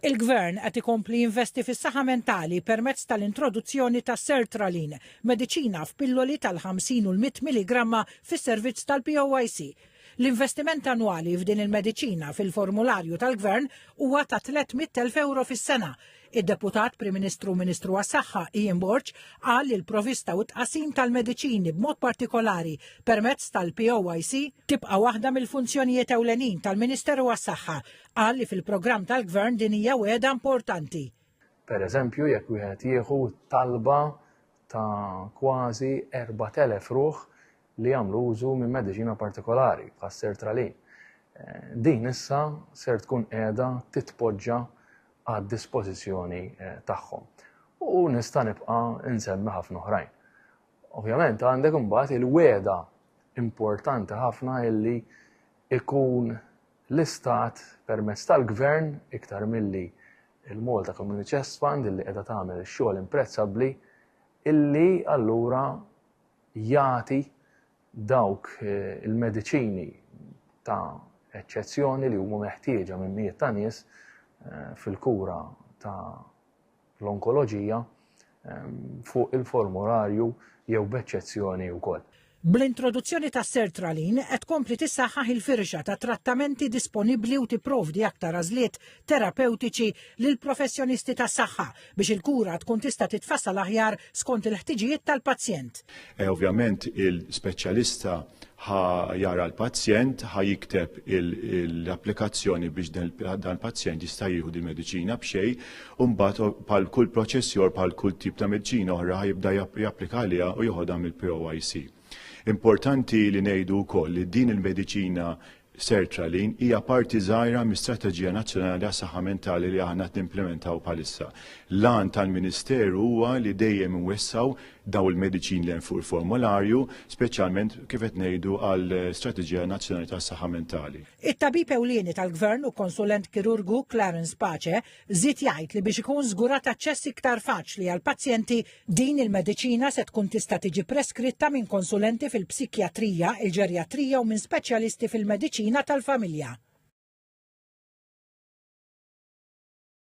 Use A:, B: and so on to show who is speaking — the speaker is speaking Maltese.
A: Il-Gvern qed ikompli jinvesti fis-saħħa mentali permezz tal-introduzzjoni ta' sertraline, mediċina f'pilloli tal-50 u l-100 milligramma fis-servizz tal-POIC. L-investiment annwali f'din il-mediċina fil-formularju tal-Gvern huwa ta' 300,000 ewro fis-sena, Id-Deputat Prim Ministru u Ministru għas-Saħħa Ian Borg qal li l-provista u t-tqasim tal-mediċini b'mod partikolari permezz tal-POIC tibqa' waħda mill-funzjonijiet ewlenin tal-Ministeru għas-Saħħa. Qal li fil-programm tal-Gvern din hija wegħda importanti. Per eżempju,
B: jekk wieħed jieħu talba ta' kważi 4,000 ruħ li jagħmlu użu minn mediċina partikolari bħas-sertralin. Eh, din issa ser tkun qiegħda titpoġġa għad-dispożizzjoni tagħhom. U nista' nibqa' nsemmi ħafna oħrajn. Ovvjament għandek imbagħad il-weda importanti ħafna illi ikun l-istat permezz tal-gvern iktar milli il-Malta Community Chest Fund illi qiegħda tagħmel ix-xogħol imprezzabbli illi allura jagħti dawk il-mediċini ta' eċċezzjoni li huma meħtieġa minn mijiet ta' nies fil-kura ta' l-onkoloġija fuq il-formurarju jew b'eċċezzjoni wkoll. Bl-introduzzjoni
A: ta' sertraline qed tkompli tissaħħaħ il-firxa ta' trattamenti disponibbli u tipprovdi aktar għażliet terapewtiċi lill-professjonisti tas-saħħa biex il-kura tkun tista' titfassal aħjar skont il-ħtiġijiet tal-pazjent. E, ovvjament
C: il-speċjalista ħa jara l-pazjent, ħa jikteb l-applikazzjoni biex dan il-pazjent jista' jieħu di mediċina b'xej, u mbagħad bħal kull proċessjor bħal kull tip ta' mediċina oħra jibda japplika għaliha u joħodha mill-POIC. Importanti li ngħidu wkoll li din il-mediċina sertraline hija parti żgħira mis-Strateġija Nazzjonali għas-Saħħa Mentali li aħna qed nimplimentaw bħalissa. L-għan tal-Ministeru huwa li dejjem inwessaw daw il-mediċin li hemm fuq il-formularju, speċjalment kif qed ngħidu għal Strateġija Nazzjonali tas-Saħħa Mentali. It-tabib ewlieni
A: tal-Gvern u konsulent kirurgu Clarence Pace Żied jgħid li biex ikun żgurat aċċess iktar faċli għall-pazjenti, din il-mediċina se tkun tista' tiġi preskritta minn konsulenti fil-psikjatrija, il-ġerjatrija u minn speċjalisti fil-mediċina tal-familja.